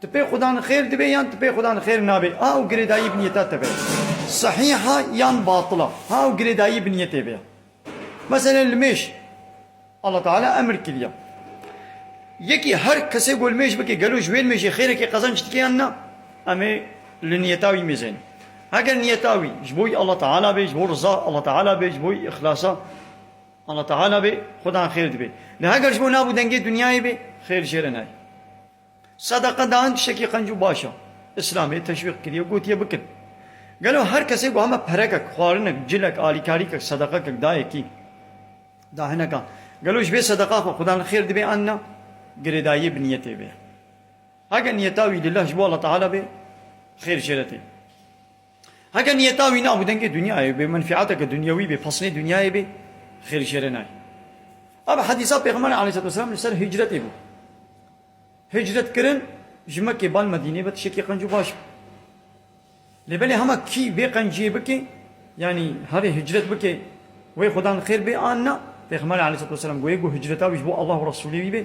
Ti pê xuda nixêr dibê yan ti pê xuda nixêr nabê a û girêdayî biniyeta te be sihîh a yan batil a a û girêdayî biniyetê be ya. Meselen li mêj Allah Teala emir kiriye yekî her kesê ku li mêj bike gelo ji wê mêjê xêrekê qezenç dike yan na em ê li niyeta wî mêzeynin. Heger niyeta wî ji bo Allah Teala bê ji bo riza Allah Teala bê ji bo îxlasa Allah Teala bê xuda nixêr dibê. Lê heger ji bo nav û dengê dinyayê bê xêr jê re nayê. Sedeqe dan tiştekî qenc û baş e. Îslamê teşwîq kiriye û gotiye bikin. Gelo her kesê ku heme perekek, xwarinek, cilek, alîkarîkek, sedeqekek dayê kî da hineka, gelo ji vê sedeqa xwe Xuda li xêr dibê an na? Girêdayiyê bi niyetê ve ye. Heke niyeta wî lillah ji bo Allah Teala bê, xêr jê re tê. Heke niyeta wî nabû dengê dinyayê bê, menfîateke dinyewî bê, pesnê dinyayê bê, xêrî şerê nayê. Ev hedîsa Pêxemberê aleyhisselatu weselam li ser hicretê bû. Hicret kirin ji Mekkê bal Medînê ve tişekî qenc û baş bû. Lê belê hema kî vê qenciyê bike, yanî herê hicret bike wê Xweda li xêr bê an na, Pêxemberê aleyhisselatu weselam goyê ku hicreta wî ji bo Allah û Resûlê wî bê.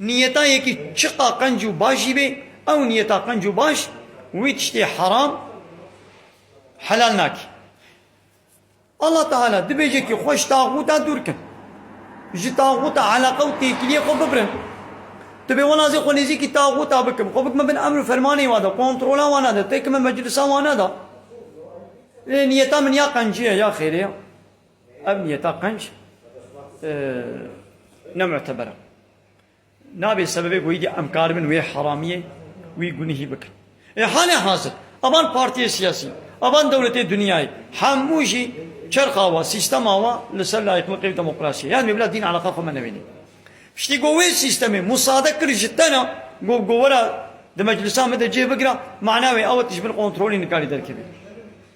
Niyeta yekî çiqa qenc û baş jî bê, ew niyeta qenc û baş wî tiştê heram helal nakî. Allah Teala dibêje kî xwe ji taxûta dûr kin. Ji taxûta eleqe û têkiliyê xwe bibirin. Tu bê wela zê xwe nêzîkî taxûta bikim, xwe bikime bin emr û fermanê wan de, kontrola wan de, têkime meclisa wan de. Lê niyeta min ya qenciye ya xêrê ye. Ev niyeta qenc ne muteber e. Nabê sebebê ku îdî em karibin wê heramiyê wî gunihî bikin. Ê halê hazir avan partiyê siyasî, avan dewletê dinyayê hemû jî çerxa wa, sîstema wa li ser layiqliqê û demokrasiyê yan wê bila dîn eleqa xwe me newenî. Piştî ku wê sîstemê musade kir ji te na got ku were di meclisa me de cih bigire mana wê ew e tu ji bin kontrolê nikarî derkevî.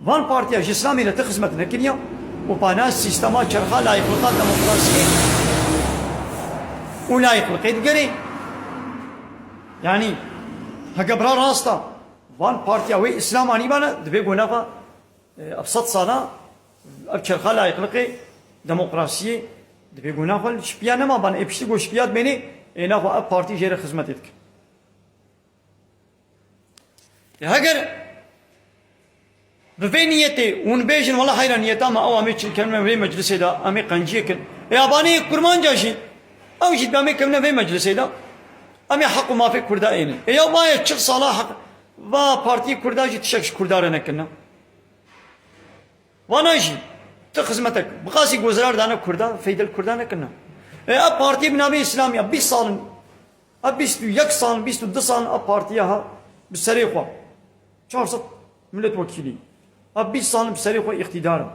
Van partiya ji Îslamê re ti xizmet nekiriya û panas sîstema çerxa layîqlika demokrasiyê û layîqlikê digerê. Yanî heke bira rast a, van partiya wê Îslam anîbane divê ku nava ev sed sala ev çerxa layîqlikê, demokrasiyê divê ku nava li şipiya nemaban. Ê piştî ku şipiya dimênê ê nava ev partî jê re xizmetê dikin. Heger bi vê niyetê hûn bêjin wela heyra niyeta me ew amê çilkevne vê meclisê de amê qenciyê kin. Ê abaniyê kurmanca jî ew jî demê kevne vê meclisê de amê heq û mafê kurda êne. Ê ya baye çil sala heq va partiyê kurda jî tişek ji kurda re nekirine. Vana jî tu xizmetek bi qasî gozirar dane kurda, feyde li kurda nekirine. Ê ev partiyê bi navê îslamî ya bîst sal in A bîst û yek sal, bîst û du sal a partiya ha bi serê xwe çar sed milletwekîlî, a bîst sal bi serê xwe îqtîdar in.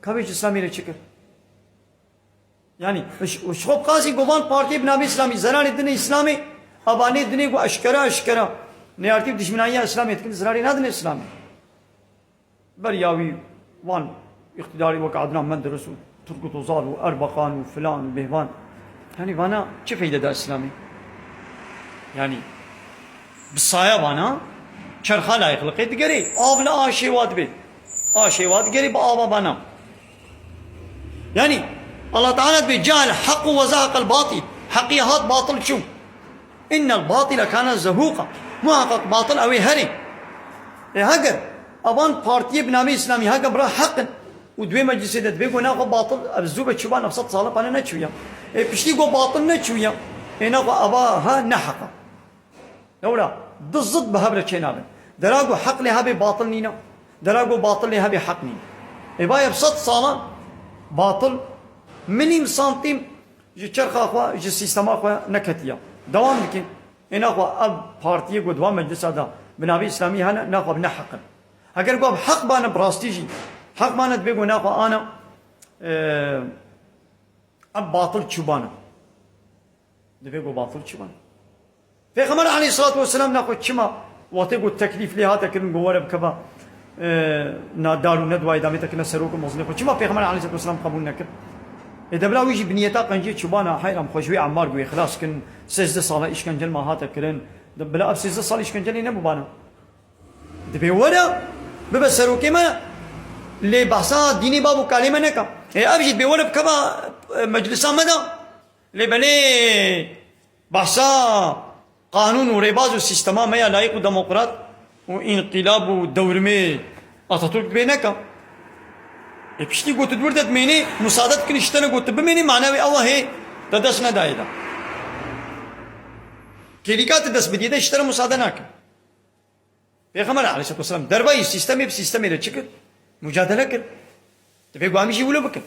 Ka vê ji Îslamî re çi kir? Yanî û ji xwe bi qasî got van partiyê bi navê Îslamî zerarê dine Îslamê, ava nê dinê ku eşkera eşkera neyartî û dijminayîya Îslamê dikin zerarê nadine Îslamê. Beriya wî wan îqtîdarî wek Adnan Menderes û Turgut Ozal û Erbakan û filan û bêhvan yanî vana çi feyde da îslamê? Yanî bi saya vana çerxa layîqliqê digerê. Av li aşê wa dibe. Aşê wa digerê bi ava vana. Yanî Allah Teala dibe ceal heq û wezehaqel batîl. Heqî hat batil çû. Inne al-batile kane zehuqa, muheqeq batil ew ê herî. Lê heger a van partiyê bi navê îslamî heger bira heq in û di wê meclîsê de divê got na xwe batil ev zû ve çû ba neh sed sal e pane neçûya. Ê piştî got batil neçûya ê na xwe ava ha ne heq e. Lewra du zid bi hev re çênabin. Dera got heq lê hebê batil nîn e. Dera got batil lê hebê heq nîn e. Ê bay ev sed sal e batil milîm santîm, Ji çerxa xwe, ji sîstema xwe neketiye. Dewam dike, Ê naxwe ev partiyê ku di van meclisa de bi navê îslamî hene naxwe bi neheq in. Heger ku ev heq bane bi rastî jî heq bane divê ku naxwe ana ev batil çûbane. Divê ku batil çûbane. Pêxember aleyhîsselatu wesselam na xwe çima wextê ku teklîf lê hate kirin ku were bikeve na dar û ne duwayê demê te kine serok û mezînê xwe çima pêxember aleyhîsselatu wesselam qebûl nekir? Lê debila wî jî bi nîyeta qenciyê çoban a heyram xwe ji wê Emmar guhê xilas kirin sêzdeh sala îşkencel ma hate kirin bila ev sêzdeh sal îşkencelê nebûbana. Divê were bibe serokê me lê behsa dînê bav û kalê me neka. Hê ev jî divê were bikeve meclisa me de. Lê belê behsa qanûn û rêbaz û sîstema me ya layîk û demokrat û înqîlab û dewrimê Ataturk dibê neka. Lê piştî ku tu dûr de dimênî, musade dikinî ji te ne ku tu bimênî mana wê ew e hê te dest nedayê de. Kêlîka tu dest bidî de ji te re musade nake. Pêxember aleyhisselatuwesselam dervayî sîstemê bi sîstemê re çi kir? Mucadele kir. Divê ku em jî wilo bikin.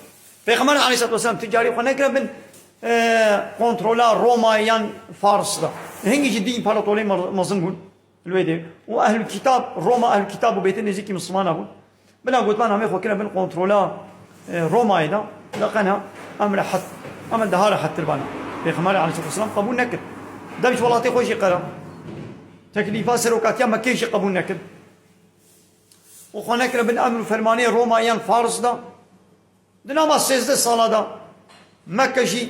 Pêxember aleyhisselatuwesselam ti carî xwe nekiriya bin kontrola Romayê yan Fars de. Hingî jî dîn împaratorê mezin bûn li wê dê û ehlûlkîtab Roma ehlûlkîtab bû bêtin nêzîkî mislimanan bûn. Bila gotinan em ê xwe kirine bin kontrola Romayê de, bila qena em li hed, em li daha li hed tir bane. Pêxemberê aleyhisselam qebûl nekir. Dewş welatê xwe jî qera. Teklîfa serokatiya Mekkeyê jî qebûl nekir. Û xwe nekirine bin emr û fermanê Roma yan Fars de. Di nava sêzdeh sala de Mekke jî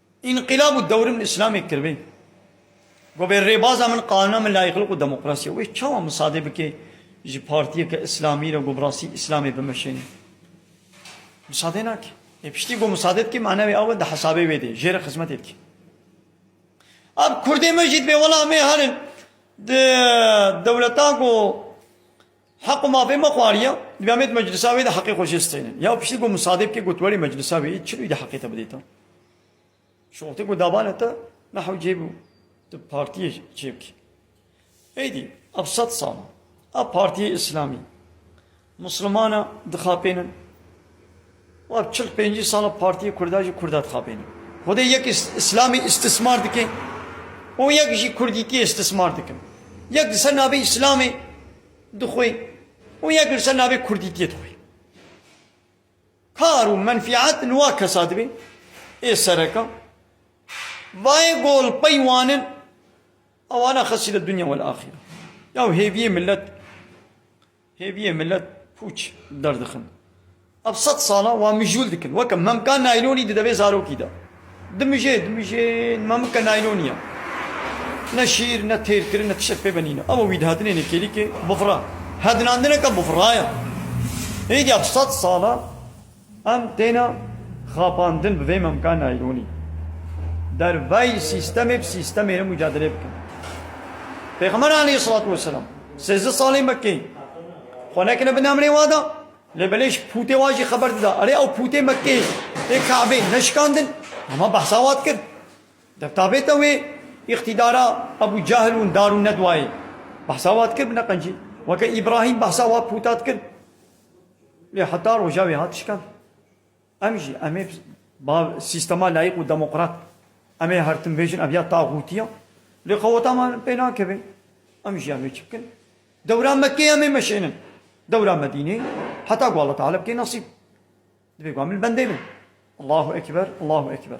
Înqilab û dewr min îslamê kiribê. Gobê rêbaza min qanûna min layîqlik û demokrasî ye. Wê çawa misadê bike ji partiyeke îslamî re ku bi rastî îslamê bimeşêne? Misadê nake. Lê piştî ku misadê dike mana wê awe di hesabê wê de jê re xizmetê dike. Ab kurdê me jî dibê wela me herin di dewleta ku Heq û mafê me xwariya, divê em ê di meclisa wê de heqê xwe jê steynin. Ya piştî ku Musadê bike got welê meclisa wê çi wî de heqê te bidê te? Şoxtê ku dabane te ne hewcê bû, tu partiyê çê bikî. Êdî ev sed sal e, ev partiyê îslamî, mislimana dixapênin, Wap çil pêncî sala partiyê kurda jî kurda dixapêne. Xwedê yek îslamî îstismar dike û yek jî kurdîtiyê îstismar dikin. Yek li ser navê îslamê dixwe û yek li ser navê kurdîtiyê dixwe. Kar û menfîet li wa kesa dibe ê sereka. Vayê golpey wan in ewana xesî li dunya welaxîre. Yaw hêviyê milet Hêviyê milet pûç derdixin. Ev sed salan wan mijûl dikin. Weke memka naylonî di devê zarokî de. Dimijê, dimijê memike naylonî ye. Ne şîr, ne têrkirin, ne tiştek pê ve nîne. Ew wî dihatinê nêkêlîkê bifira. Hedinandineke bifira ye. Hêviya sed salan. Em têne xapandin bi vê memka naylonî. Derveyî sîstemê bi sîstemê re mucadelê bikin. Pêxember aleyhîsselatu wesselam sêzdeh sal ê Mekkeyê xwe nekine bin emrê wan de lê belê ji pûtê wan jî xeber dida. Erê ew pûtê Mekkeyê ê Kabeyê neşikandin? Hema behsa wan dikir. Dev ta bête wê îktîdara Ebû Cehl û Darûnnedwayê behsa wan dikir bi neqencî. Weke Îbrahîm behsa wan pûta dikir. Lê heta roja wê hat şikand. Em jî em ê bi sîstema layîk û demokrat em ê her tim bêjin ev ya taxûtiya. Lê qeweta me pê nakeve. Em jî em ê çi bikin? Dewra me kê em ê meşênin? Dewra Medînê heta ku Allah Teala bike nesîb. Divê ku em li bendê bin. Allahu Ekber, Allahu Ekber.